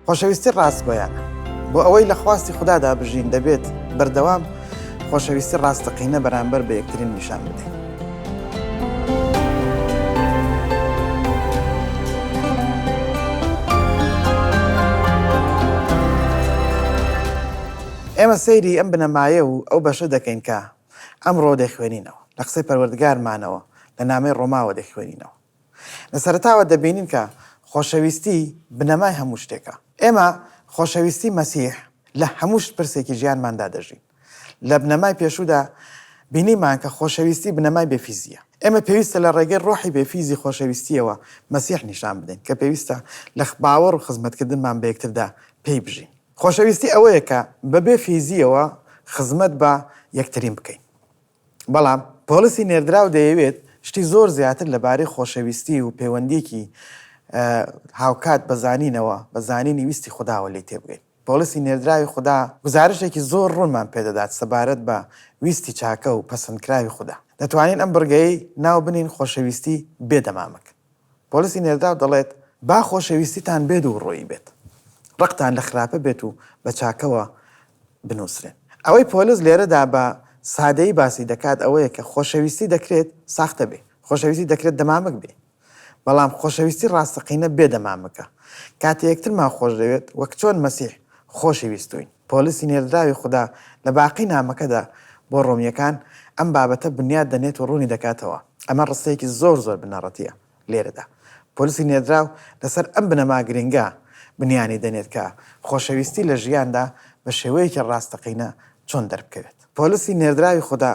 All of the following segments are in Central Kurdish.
خۆشەویستی ڕاستگۆیانە بۆ ئەوەی لە خواستی خوددادا بژین دەبێت بەردەوام خۆشەویستی ڕاستەقینە بەرامبەر بە یەکترین نیشان بدەین. ئێمە سەیری ئەم بنەمایە و ئەو بەشە دەکەین کە ئەمڕۆ دەخوێنینەوە لە قسەی پەروەردگارمانەوە لە نامەی ڕۆماوە دەخوێنینەوە لە سەرەتاوە دەبینین کە خۆشەویستی بنەمای هەموو شتێکە. ئێمە خۆشەویستی مەسیح لە هەموو شت پرسێکی ژیانماندا دەژین. لە بنەمای پێشوودا بینیمان کە خۆشەویستی بنەمای بێفیزییە. ئێمە پێویستە لە ڕێگەی ڕۆحی بێفیزی خۆشەویستییەوە مەسیح نیشان بدەین کە پێویستە لە باوەڕ و خزمەتکردنمان بە یەکتردا پێی بژین. خۆشەویستی ئەوەیە کە بەبێ فیزییەوە خزمەت بە یەکترین بکەین. بەڵام پۆڵسی نێردراو دەیەوێت شتی زۆر زیاتر لە بارەی خۆشەویستی و پەیوەندییەکی هاوکات بە زانینەوە، بە زانینی ویستی خوداوە لێی تێبگەین. پۆڵسی نێردراوی خودا گوزارشتێکی زۆر ڕوونمان پێدەدات سەبارەت بە ویستی چاکە و پەسەندکراوی خودا. دەتوانین ئەم بڕگەیەی ناو بنێین خۆشەویستی بێ دەمامک. پۆلیسی نێرداو دەڵێت، با خۆشەویستیتان بێ دووڕوویی بێت، ڕقتان لە خراپە بێت و بە چاکەوە بنووسرێن. ئەوەی پۆلیس لێرەدا بە سادەیی باسی دەکات ئەوەیە کە خۆشەویستی دەکرێت ساختە بێ، خۆشەویستی دەکرێت دەمامک بێ، بەڵام خۆشەویستی ڕاستەقینە بێ دەمامکە. کاتێ یەکترمان خۆش دەوێت، وەک چۆن مەسیح خۆشی ویستووین. پۆلسی نێردراوی خودا لە باقی نامەکەدا بۆ ڕۆمییەکان ئەم بابەتە بنیات دەنێت و ڕوونی دەکاتەوە. ئەمە ڕستەیەکی زۆر زۆر بنەڕەتییە لێرەدا. پۆلسی نێردراو لەسەر ئەم بنەما گرنگە بنیانی دەنێت کە خۆشەویستی لە ژیاندا بە شێوەیەکی ڕاستەقینە چۆن دەربکەوێت. پۆلسی نێردراوی خودا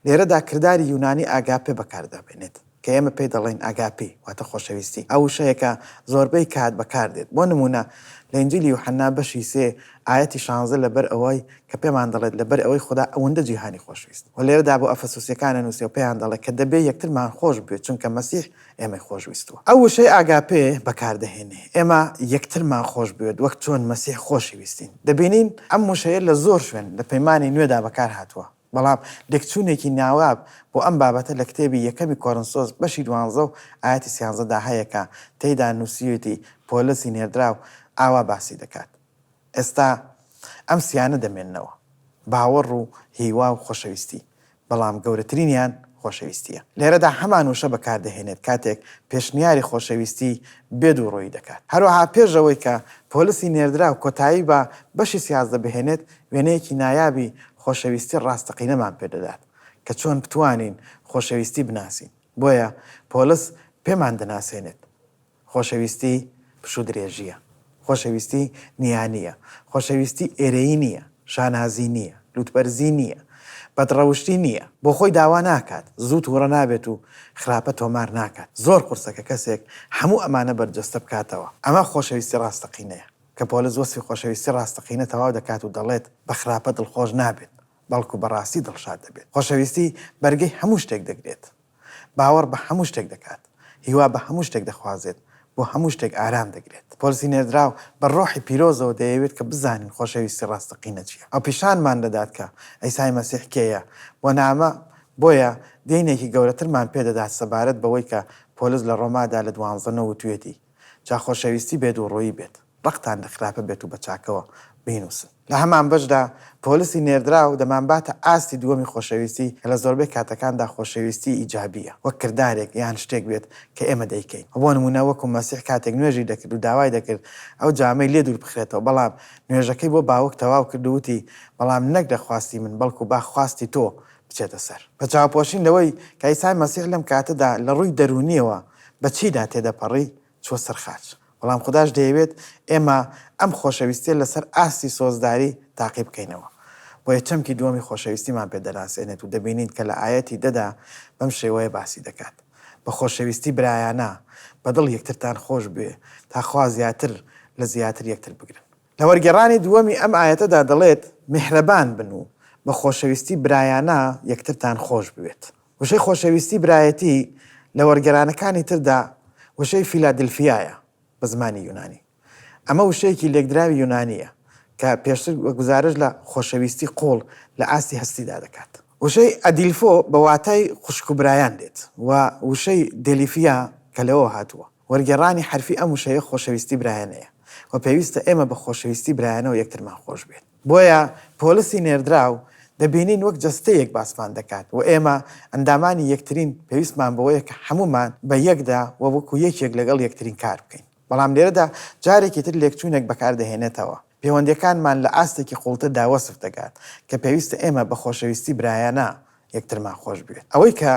لێرەدا کرداری یونانی ئاگاپێ بەکار دەبێنێت. کە ئێمە پێی دەڵێین ئاگاپی واتە خۆشەویستی، ئەو وشەیە کە زۆربەی کات بەکار دێت. بۆ نموونە لە ئینجیلی یوحەنا بەشی سێ ئایەتی شانزە لەبەر ئەوەی کە پێمان دەڵێت لەبەر ئەوەی خودا ئەوەندە جیهانی خۆشویست و لێرەدا بۆ ئەفەسوسییەکان ئەنووسێ و پێیان دەڵێ کە دەبێ یەکترمان خۆش بوێ چونکە مەسیح ئێمەی خۆش ویستووە. ئەو وشەی ئاگاپێ بەکار دەهێنێ ئێمە یەکترمان خۆش بوێت وەک چۆن مەسیح خۆشی ویستین. دەبینین ئەم وشەیە لە زۆر شوێن لە پەیمانی نوێدا بەکار هاتووە. بەڵام لێکچوونێکی ناواب بۆ ئەم بابەتە لە کتێبی یەکەمی کۆرنسۆس بەشی دوانزە و ئایەتی سیانزە دا هەیە کە تێیدا نووسیویەتی پۆلسی نێردراو ئاوا باسی دەکات ئێستا ئەم سیانە دەمێننەوە، باوەڕ و هیوا و خۆشەویستی، بەڵام گەورەترینیان خۆشەویستییە. لێرەدا هەمان وشە بەکار دەهێنێت کاتێک پێشنیاری خۆشەویستی بێ دووڕوویی دەکات. هەروەها پێش ئەوەی کە پۆلسی نێردراو کۆتایی بە بەشی سیازدە بهێنێت، وێنەیەکی نایابی خۆشەویستی ڕاستەقینەمان پێ دەدات کە چۆن بتوانین خۆشەویستی بناسین. بۆیە پۆلس پێمان دەناسێنێت، خۆشەویستی پشوودرێژییە، خۆشەویستی نییانییە، خۆشەویستی ئێرەیی نییە، شانازی نییە، لووتبەرزی نییە، بەدڕەوشتی نییە، بۆ خۆی داوا ناکات، زوو تووڕە نابێت و خراپە تۆمار ناکات، زۆر قورسە کە کەسێک هەموو ئەمانە بەرجەستە بکاتەوە، ئەمە خۆشەویستی ڕاستەقینەیە. کە پۆلس وەسفی خۆشەویستی ڕاستەقینە تەواو دەکات و دەڵێت، بە خراپە دڵخۆش نابێت، بەڵکو بە ڕاستی دڵشاد دەبێت. خۆشەویستی بەرگەی هەموو شتێک دەگرێت. باوەڕ بە هەموو شتێک دەکات. هیوا بە هەموو شتێک دەخوازێت. بۆ هەموو شتێک ئارام دەگرێت. پۆلسی نێردراو بە ڕۆحی پیرۆزەوە دەیەوێت کە بزانین خۆشەویستی ڕاستەقینە چییە. ئەو پیشانمان دەدات کە عیسای مەسیح کێیە و نامە، بۆیە دێینێکی گەورەترمان پێ دەدات سەبارەت بەوەی کە پۆلس لە ڕۆمادا لە دوانزە نۆ وتویەتی، جا خۆشەویستی بێ دووڕوویی بێت ڕقتان لە خراپە بێت و بە چاکەوە بینووسن. لە هەمان بەشدا پۆلسی نێردراو دەمانباتە ئاستی دووەمی خۆشەویستی کە لە زۆربەی کاتەکاندا خۆشەویستی ئیجابییە وەک کردارێک یان شتێک بێت کە ئێمە دەیکەین و بۆ نموونە وەکو مەسیح کاتێک نوێژی دەکرد و داوای دەکرد ئەو جامەی لێ دوور بخرێتەوە بەڵام نوێژەکەی بۆ باوک تەواو کرد و وتی بەڵام نەک لە خواستی من بەڵکو با خواستی تۆ بچێتە سەر. بە چاوپۆشین لەوەی کە عیسای مەسیح لەم کاتەدا لە ڕووی دەروونییەوە، بە چیدا تێدەپەڕی چووە سەر خاچ، بەڵام خوداش دەیەوێت ئێمە ئەم خۆشەویستییە لەسەر ئاستی سۆزداری تاقی بکەینەوە. بۆیە چەمکی دووەمی خۆشەویستیمان پێ دەناسێنێت و دەبینین کە لە ئایەتی دە دا بەم شێوەیە باسی دەکات، بە خۆشەویستی برایانە بە دڵ یەکترتان خۆش بوێ تا خوا زیاتر لە زیاتر یەکتر بگرن. لە وەرگێڕانی دووەمی ئەم ئایەتەدا دەڵێت، میهرەبان بن و بە خۆشەویستی برایانە یەکترتان خۆش بوێت. وشەی خۆشەویستی برایەتی لە وەرگێرانەکانی تردا وشەی فیلادلفیایە بە زمانی یونانی. ئەمە وشەیەکی لێکدراوی یونانییە کە پێشتر گوزارش لە خۆشەویستی قووڵ لە ئاستی هەستیدا دەکات. وشەی ئەدیلفۆ بە واتای خوشک و برایان دێت و وشەی دێلیفیا کە لەوەوە هاتووە. وەرگێڕانی حەرفی ئەم وشەیە خۆشەویستی برایانەیە و پێویستە ئێمە بە خۆشەویستی برایانەوە یەکترمان خۆشبوێت. بۆیە پۆلسی نێردراو دەبینین وەک جەستەیەک باسمان دەکات و ئێمە ئەندامانی یەکترین، پێویستمان بەوەیە کە هەموومان بە یەکدا و وەکو یەکێک لەگەڵ یەکترین کار بکەین. بەڵام لێرەدا جارێکی تر لێکچوونێک بەکاردەهێنێتەوە. پێوەندییەکانمان لە ئاستێکی قووڵتردا وەسف دەکات کە پێویستە ئێمە بە خۆشەویستی برایانە یەکترمان خۆش بوێت. ئەوەی کە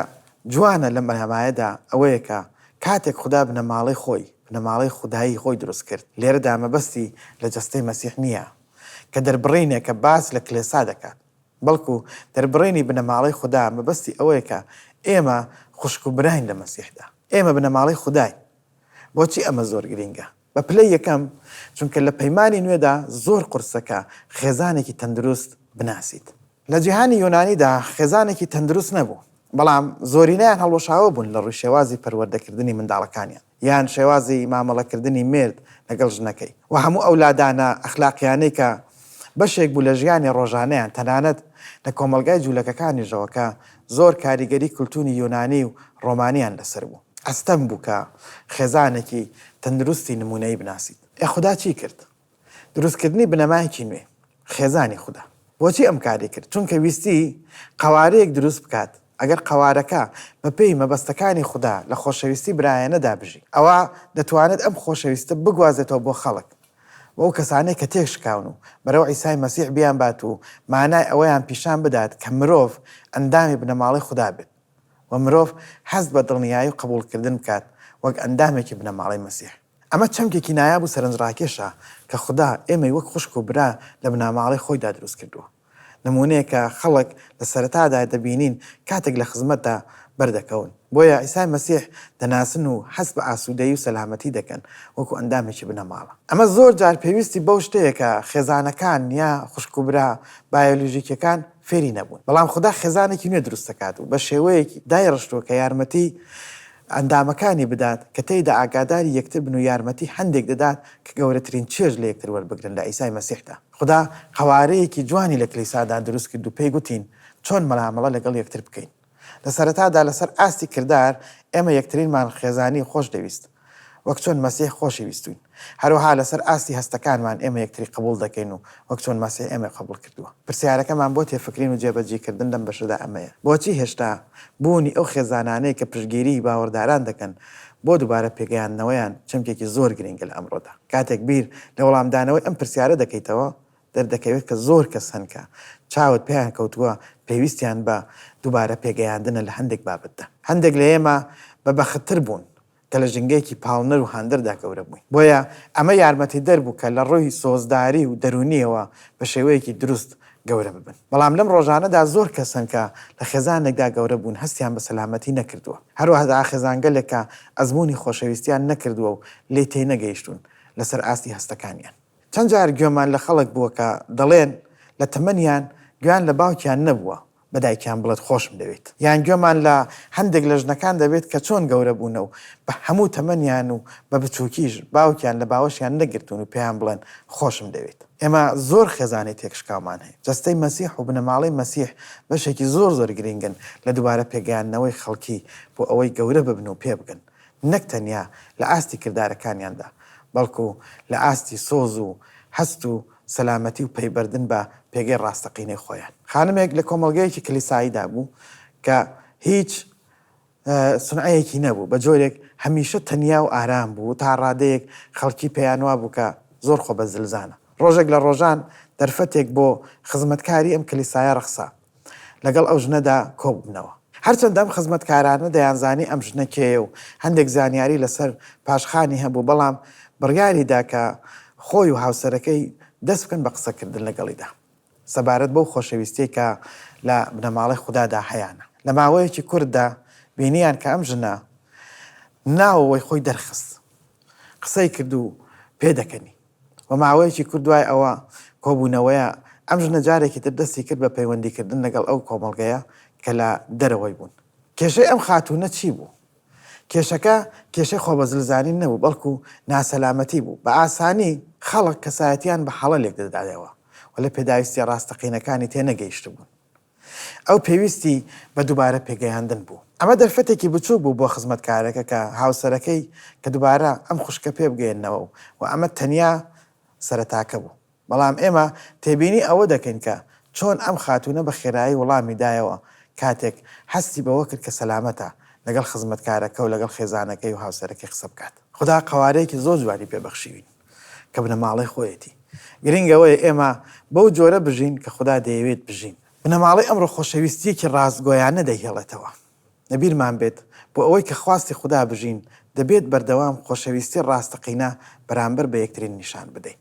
جوانە لەم بنەمایەدا ئەوەیە کە کاتێک خودا بنەماڵەی خۆی، بنەماڵەی خودایی خۆی دروست کرد، لێرەدا مەبەستی لە جەستەی مەسیح نییە، کە دەربڕینێکە باس لە کلێسا دەکات، بەڵکو دەربڕینی بنەماڵەی خودا مەبەستی ئەوەیە کە ئێمە خوشک و براین لە مەسیحدا. ئێمە بنەماڵەی خوداین. بۆچی ئەمە زۆر گرینگە؟ بە پلەی یەکەم، چونکە لە پەیمانی نوێدا زۆر قورسە کە خێزانێکی تەندروست بناسیت. لە جیهانی یۆنانیدا خێزانێکی تەندروست نەبوو، بەڵام زۆرینەیان هەڵوەشاوە بوون لە ڕووی شێوازی پەروەردەکردنی منداڵەکانیان، یان شێوازی مامەڵەکردنی مێرد لەگەڵ ژنەکەی و هەموو ئەو لادانە ئەخلاقییانەی کە بەشێک بوو لە ژیانی ڕۆژانەیان، تەنانەت لە کۆمەڵگای جوولەکەکانیشەوە کە زۆر کاریگەری کولتووری یۆنانی و ڕۆمانییان لەسەر بوو. ئەستەم بوو کە خێزانێکی تەندروستی نموونەیی بناسیت. ئێ خودا چی کرد؟ دروستکردنی بنەمایەکی نوێ، خێزانی خودا. بۆچی ئەم کارەی کرد؟ چونکە ویستی قەوارەیەک دروست بکات ئەگەر قەوارەکە بەپێی مەبەستەکانی خودا لە خۆشەویستی برایانەدا بژی، ئەوا دەتوانێت ئەم خۆشەویستە بگوازێتەوە بۆ خەڵک، بۆ ئەو کەسانەی کە تێکشکاون و بەرەو عیسای مەسیح بیانبات و مانای ئەوەیان پیشان بدات کە مرۆڤ ئەندامی بنەماڵەی خودا بێت و مرۆڤ هەست بە دڵنیایی و قبوڵکردن بکات وەک ئەندامێکی بنەماڵەی مەسیح. ئەمە چەمکێکی نایاب و سەرنجڕاکێشە کە خودا ئێمەی وەک خوشک و برا لە بناماڵەی خۆیدا دروستکردووە. نموونەیەکە خەڵک لە سەرەتادا دەبینین کاتێک لە خزمەتدا بەردەکەون. بۆیە عیسای مەسیح دەناسن و هەست بە ئاسوودەیی و سەلامەتی دەکەن وەکو ئەندامێکی بنەماڵە. ئەمە زۆر جار پێویستی بەو شتەیە کە خێزانەکان یا خوشک و برا بایۆلۆژیکییەکان فێری نەبوون. بەڵام خودا خێزانێکی نوێ دروست دەکات و بە شێوەیەکی دایڕشتووە کە یارمەتیی ئەندامەکانی بدات کە تێیدا ئاگاداری یەکتر بن و یارمەتی هەندێک دەدات کە گەورەترین چێژ لە یەکتر وەربگرن لە عیسای مەسیحدا. خودا قەوارەیەکی جوانی لە کلیسادا دروست کرد و پێی گوتین چۆن مەلامەڵە لەگەڵ یەکتر بکەین. لە سەرەتادا لەسەر ئاستی کردار ئێمە یەکترینمان خێزانی خۆش دەویست، وەک چۆن مەسیح خۆشی ویستووین. هەروەها لەسەر ئاستی هەستەکانمان ئێمە یەکتری قبوڵ دەکەین و وەک چۆن مەسیح ئێمەی قبوڵ کردووە. پرسیارەکەمان بۆ تێفکرین و جێبەجیکردن لەم بەشەدا ئەمەیە، بۆچی هێشتا بوونی ئەو خێزانانەی کە پشتگیریی باوەڕداران دەکەن، بۆ دووبارە پێگەیاندنەوەیان چەمکێکی زۆر گرنگە لە ئەمڕۆدا. کاتێک بیر لە وەڵامدانەوەی ئەم پرسیارە دەکەیتەوە، دەردەکەوێت کە زۆر کەس هەن کە چاوت پێیان کەوتووە پێویستیان بە دووبارە پێگەیاندنە لە هەندێک بابەتدا. هەندێک لە ئێمە بە بەختتر بوون کە لە ژینگەیەکی پاڵنەر و هاندەردا گەورە بووین، بۆیە ئەمە یارمەتیدەر بوو کە لە ڕووی سۆزداری و دەروونییەوە بە شێوەیەکی دروست گەورە ببن. بەڵام لەم ڕۆژانەدا زۆر کەس هەن کە لە خێزانێکدا گەورە بوون هەستیان بە سەلامەتی نەکردووە. هەروەهدا خێزانگەلێک کە ئەزموونی خۆشەویستییان نەکردووە و لێی تێنەگەیشتوون لەسەر ئاستی هەستەکانیان. چەند جار گوێمان لە خەڵک بووە کە دەڵێن لە تەمەنیان گوێیان لە باوکیان نەبووە بە دایکیان بڵێت خۆشم دەوێیت. یان گوێمان لە هەندێک لە ژنەکان دەبێت کە چۆن گەورە بوونە و بە هەموو تەمەنیان و بە بچووکیش باوکیان لە باوەشیان نەگرتوون و پێیان بڵێن خۆشم دەوێیت. ئێمە زۆر خێزانی تێکشکاومان هەیە. جەستەی مەسیح و بنەماڵەی مەسیح بەشێکی زۆر زۆر گرینگن لە دووبارە پێگەیاندنەوەی خەڵکی بۆ ئەوەی گەورە ببن و پێبگەن، نەک تەنیا لە ئاستی کردارەکانیاندا، بەڵکو لە ئاستی سۆز و هەست و سەلامەتی و پەیبردن بە پێگەی ڕاستەقینەی خۆیان. خانمێک لە کۆمەڵگەیەکی کلیساییدا بوو کە هیچ. سونعەیەکی نەبوو، بە جۆرێک هەمیشە تەنیا و ئارام بوو، تا ڕادەیەک خەڵکی پێیان وابوو کە زۆر خۆبەزلزانە. ڕۆژێک لە ڕۆژان دەرفەتێک بۆ خزمەتکاری ئەم کلیسایە ڕەخسا لەگەڵ ئەو ژنەدا کۆببنەوە. هەرچەندە ئەم خزمەتکارانە دەیانزانی ئەم ژنە کێیە و هەندێک زانیاری لەسەر پاشخانی هەبوو، بەڵام بڕیاریدا کە خۆی و هاوسەرەکەی دەست بکەن بە قسەکردن لەگەڵیدا. سەبارەت بەو خۆشەویستیەی کە لە بنەماڵەی خودادا هەیانە لە ماوەیەکی کورتدا بینیان کە ئەم ژنە ناوەوەی خۆی دەرخست قسەی کرد و پێدەکەنی و ماوەیەکی کورد دوای ئەوە کۆبوونەوەیە ئەم ژنە جارێکی تر دەستی کرد بە پەیوەندیکردن لەگەڵ ئەو کۆمەڵگەیە کە لە دەرەوەی بوون کێشەی ئەم خاتوونە چی بوو؟ کێشەکە کێشەی خۆبەزلزانین نەبوو، بەڵکو ناسەلامەتی بوو. بە ئاسانی خەڵک کەسایەتییان بە هەڵە لێکدەدایەوە و لە پێداویستییە ڕاستەقینەکانی تێنەگەیشتبوون. ئەو پێویستی بە دووبارە پێگەیاندن بوو. ئەمە دەرفەتێکی بچووک بوو بۆ خزمەتکارەکە کە هاوسەرەکەی کە دووبارە ئەم خوشکە پێبگەیەننەوە و ئەمە تەنیا سەرەتاکە بوو. بەڵام ئێمە تێبینی ئەوە دەکەین کە چۆن ئەم خاتوونە بە خێرایی وڵامی دایەوە کاتێک هەستی بەوە کرد کە سەلامەتە لەگەڵ خزمەتکارەکە و لەگەڵ خێزانەکەی و هاوسەرەکەی قسە بکات. خودا قەوارەیەکی زۆر جوانی پێ بەخشیوین کە بنەماڵەی خۆیەتی. گرنگ ئەوەیە ئێمە بەو جۆرە بژین کە خودا دەیەوێت بژین. بنەماڵەی ئەمڕۆ خۆشەویستییەکی ڕاستگۆیانە دەیهێڵێتەوە. لەبیرمان بێت بۆ ئەوەی کە خواستی خودا بژین، دەبێت بەردەوام خۆشەویستی ڕاستەقینە بەرامبەر بە یەکترین نیشان بدەین.